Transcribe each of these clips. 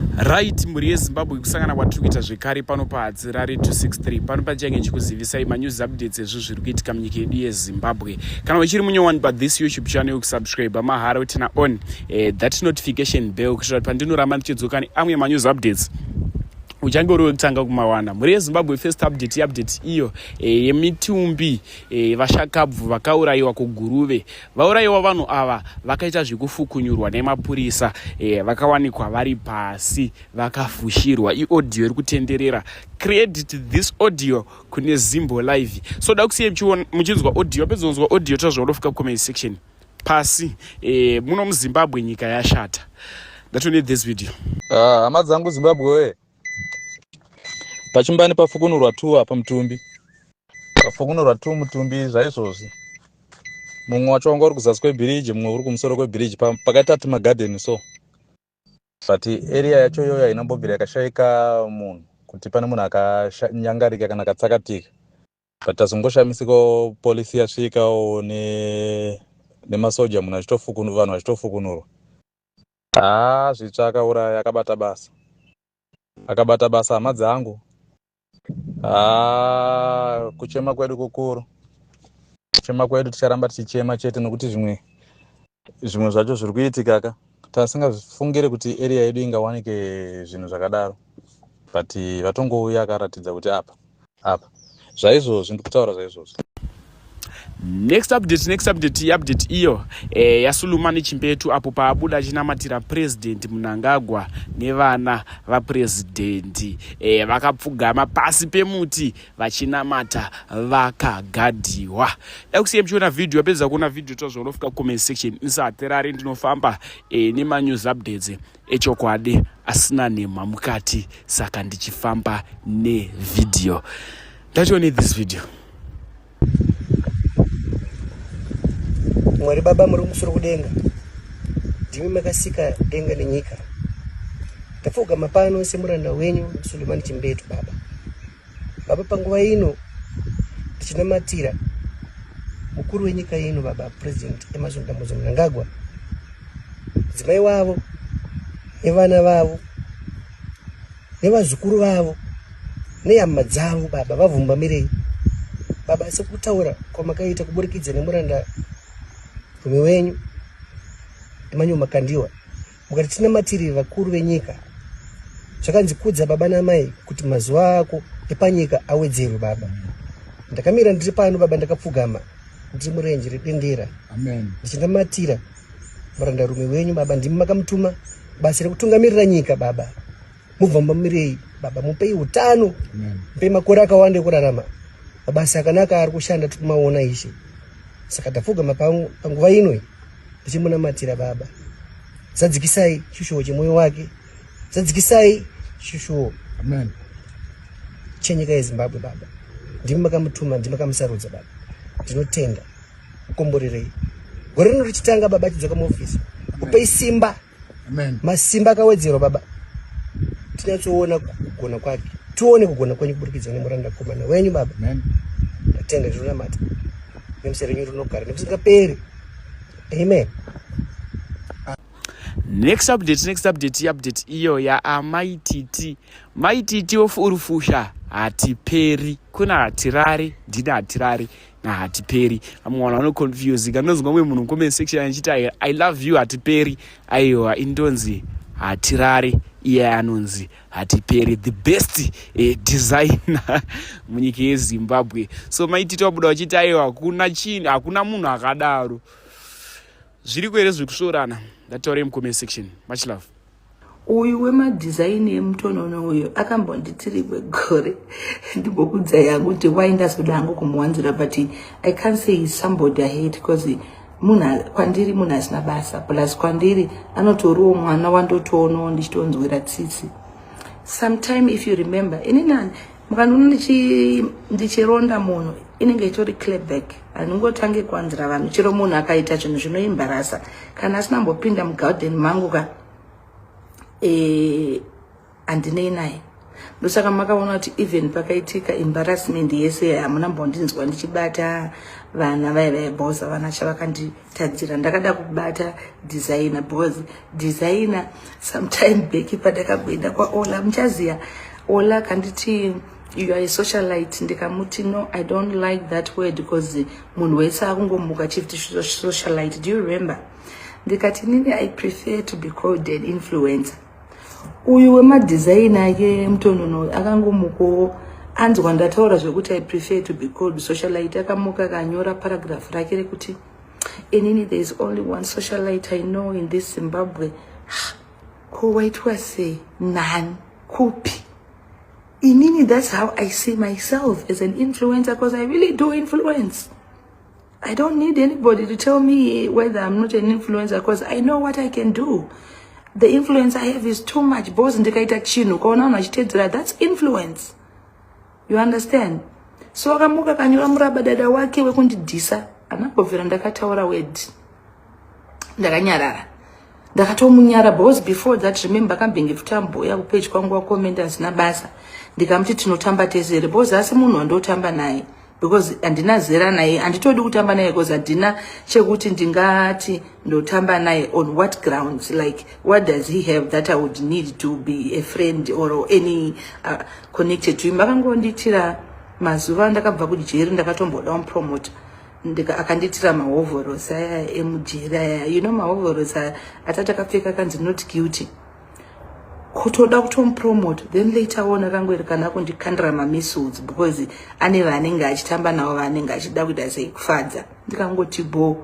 Right, mhuri yeZimbabwe kusangana kwatiri kuita zvekare pano paHadzirare 263 pano pachange ndichikuzivisai manews updates ezvo zviri kuitika munyika yedu yeZimbabwe. Kana uchiri munyowani pa this YouTube channel yokusubscribe mahara utina on eh, that notification bell kuitira kuti pandinoramba ndichidzoka neamwe manews updates uchange uri wekutanga kumawana mhuri yezimbabwe first update update iyo eh, yemitumbi e, vashakabvu vakaurayiwa kuguruve Vaurayiwa vanhu ava vakaita zvekufukunyurwa nemapurisa eh, vakawanikwa vari pasi vakafushirwa. Iaudio iri kutenderera. Credit this audio kune Zimbo Live. So da kusiya muchinzwa audio, apedza kunzwa audio tazva unofika comment section. Pasi eh, muno muZimbabwe nyika yashata. That's only this video. Ah, hama dzangu Zimbabwe. pachimbani pafukunurwa two apa mutumbi pafukunurwa two mutumbi zvaizvozvi mumwe wacho wanga uri kuzasi kwebhiriji mumwe uri kumusoro kwebhiriji pakaita ti magadeni so but area yacho iyoyo haina mbobvira yakashaika munhu kuti pane munhu akanyangarika kana akatsakatika but tazongoshamisika polisi yasvikawo nemasoja munhu achitofukunurwa vanhu vachitofukunurwa Haa zvitsva akauraya akabata basa akabata basa hama dzangu haa kuchema kwedu kukuru kuchema kwedu ticharamba tichichema chete nokuti zvimwe zvimwe zvacho zviri kuitika ka tasingafungire kuti area yedu ingawanike zvinhu zvakadaro but vatongouya akaratidza kuti apa apa zvaizvozvo ndikutaura zvaizvozvo next update next update iupdate iyo e, yasuluma nechimbetu apo paabuda achinamatira president munangagwa nevana vaprezidendi e, eh, vakapfugama pasi pemuti vachinamata vakagadiwa da kusiya muchiona vhidhiyo apedza kuona vhidhiyo tozvaonofika comment section ndisahaterari ndinofamba e, nemanews updates echokwadi asina nhemha mukati saka ndichifamba nevideo ndatione this video mwari baba muri kumusoro kudenga ndimi makasika denga nenyika ndapfugama pano semuranda wenyu sulemani chimbetu baba Baba, panguva ino tichinamatira mukuru wenyika ino baba president emerson dambudzo mnangagwa mudzimai wavo nevana vavo nevazukuru vavo nehama dzavo baba vavhumbamirei baba sekutaura kwamakaita kuburikidza nemuranda rume wenyu emanyumakandiwa Mukati tinamatirire vakuru venyika zvakanzi kudza baba namai kuti mazuva ako epanyika awedzerwe baba ndakamira ndiri pano baba ndakapfugama ndiri murenje redendera ndichinamatira murandarume wenyu baba ndimi makamutuma basa rekutungamirira nyika baba Muvambamirei baba mupei utano mupei makore akawanda ekurarama mabasa akanaka ari kushanda tiri kumaona ishe saka tapfugama panguva ino tichimunamatira baba zadzikisai chishuwo chemwoyo wake zadzikisai chishuwo amen chenyika yezimbabwe baba ndimi makamutuma ndimi makamusarudza baba ndinotenda mukomborerei gore rino richitanga baba chidzoka muofisi kupei simba masimba akawedzerwa baba tinyatsoona kugona kwake tione kugona kwenyu kuburikidza nemuranda komana wenyu baba ndatenda zvinonamata nemusa renyu rinogara nemusingaperi amen next update next update update iyo yaamai titi mai titi ofurufusha hatiperi kuna hatirari ndina hatirari hatiperi vamwe vanhu vanoconfusika ndonzwa mwe munhu comment section achiti i love you hatiperi aiwa indonzi hatirare iye anonzi hatiperi the best eh, designer munyika yezimbabwe so maitito abuda vachiti aiwa hakuna chini hakuna munhu akadaro zviri kuere zviri kusvorana ndataure mucomment section much love uyu wemadhizaini emutonono uyu akambonditiri kwegore ndimbokudza yangu kuti wai ndazoda hangu kumuwanzira but i can't say is somebody i hate because munhu kwandiri munhu asina basa plus kwandiri anotoriwo mwana wandotoonawo ndichitonzwira tsitsi sometime if you remember inini mukandiona ndichi ndichironda munhu inenge itori clearback handingotange kuwanzira vanhu chero munhu akaita chinhu zvinoimbarasa kana asina mbopinda mugarden mangu ka eh, handinei e, naye ndosaka makaona kuti even pakaitika embarrassment yese hamuna mbondinzwa ndichibata vana vaya vaibhoza vana chavakandi Tadzira ndakada kubata designer because designer sometime back padakagoenda kwaola muchaziya ola kanditi you are a socialite ndikamuti no i don't like that word because munhu wese akungomuka achiti socialite do you remember ndikati nini i prefer to be called an influencer uyu wemadhizaini ake mutonono akangomukowo anzwa ndataura zvekuti i prefer to be called socialite akamuka akanyora paragraph rake rekuti inini there is only one socialite i know in this zimbabwe ko waitwa sei nani kupi inini that's how i see myself as an influencer because i really do influence I don't need anybody to tell me whether I'm not an influencer because I know what I can do. The influence I have is too much. Boss ndikaita chinhu kaona vanhu vachitedzera that's influence. You understand? So akamuka kanyura muraba dada wake wekundidhisa anambobvira ndakataura word. ndakanyarara ndakatomunyara because before that remember akambenge tutamboya kupeji kwangu wakomenda hazina basa ndikamuti tinotamba tese because asi munhu wandotamba naye because handina zera naye handitodi kutamba naye because handina chekuti ndingati ndotamba naye on what grounds like what does he have that i would need to be a friend or any uh, connected to him vakangondiitira mazuva ndakabva kujeri ndakatomboda mupromota ndika akanditira mahovhorosi aya emujeri aya you know mahovhorosi aya atati akapfeka kanzi not guilty kutoda kutomupromote then later on akangoiri kana kundikandira mamissiles because ane vaanenge achitamba navo vaanenge achida kuita sei kufadza ndikangoti bho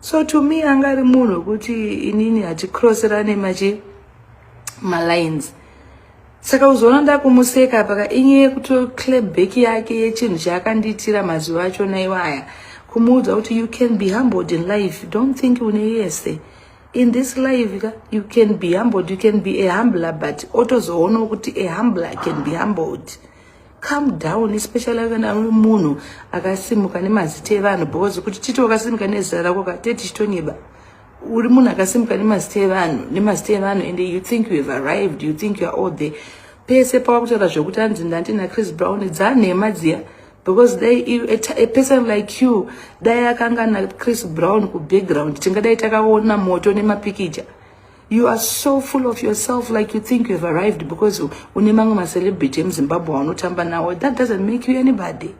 so to me anga ari munhu wekuti inini haticrossirane machi malines saka uzoona ndakumuseka apa ka inye yekutoclabback yake yechinhu chaakandiitira mazuva achona iwaya kumuudza kuti you can be humbled in life don't think une yese in this life ka you can be humbled you can be a humbler but otozoonawo kuti a humbler can be humbled come down especially kana uri munhu akasimuka nemazita evanhu because kuti titi wakasimuka nezita rako ka tetichitonyeba uri munhu akasimuka nemazita evanhu nemazita evanhu and you think you have arrived you think youare all there pese pawakutaura zvekuti anzi ndandi nachris brown dzanhema dziya because dai a person like you dai akanga nachris brown kubackground tingadai takaona moto nemapikicha you are so full of yourself like you think you have arrived because une mamwe macelebrity emuzimbabwe aunotamba nawo that doesn't make you anybody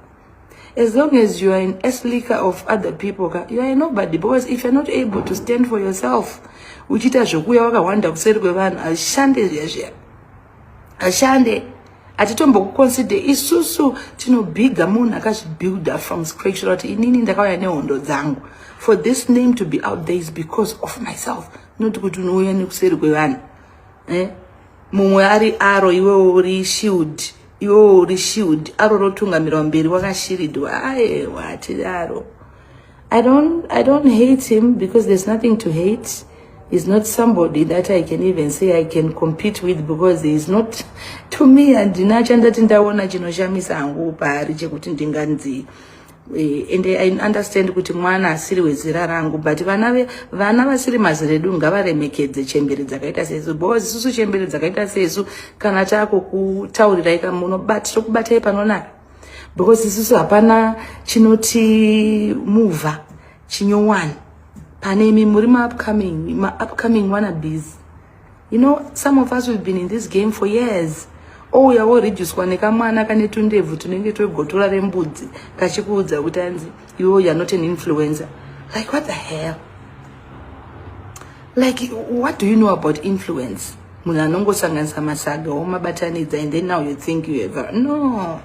As long as you are an esliker of other people, ka, you are a nobody because if you're not able to stand for yourself, uchiita zvekuuya wakahwanda kuseri kwevanhu hazvishande zviya zviya hazvishande hatitombokuconsider isusu tinobhiga munhu akazvibuilder from scratch kuti inini ndakauya nehondo dzangu for this name to be out there is because of myself not kuti unouya nekuseri kwevanhu eh? mumwe ari aro iwewo uri shield iwewo uri shield aro rotungamirwa mberi wakashiridwa aewa hatiri aro I don't, I don't hate him because there's nothing to hate He's not somebody that I can even say I can compete with because he's not to me handina chandati ndaona chinoshamisa hangu paari chekuti ndinganzi Eh, and i understand kuti mwana asiri wezera rangu but vana vana vasiri mazera edu ngavaremekedze chembere dzakaita sesu because isusu chembere dzakaita sesu kana taakukutaurirai ka munobati tokubatai panonaka because isusu hapana chinoti muvha chinyowani pane imi muri maupcoming maupcoming wanna busy You know, some of us we've been in this game for years. Ouya woreducwa nekamwana kane tundebvu tunenge twegotora rembudzi kachikuudza kuti anzi iwe you're not an influencer. Like what the hell? Like what do you know about influence? Munhu anongosanganisa masaga womabatanidza and then now you think you ever. No.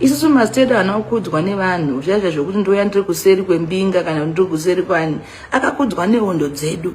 isusu mastedo anokudzwa nevanhu zviya zviya zvekuti ndouya ndiri kuseri kwembinga kana kuti ndiri kuseri kwani akakudzwa nehondo dzedu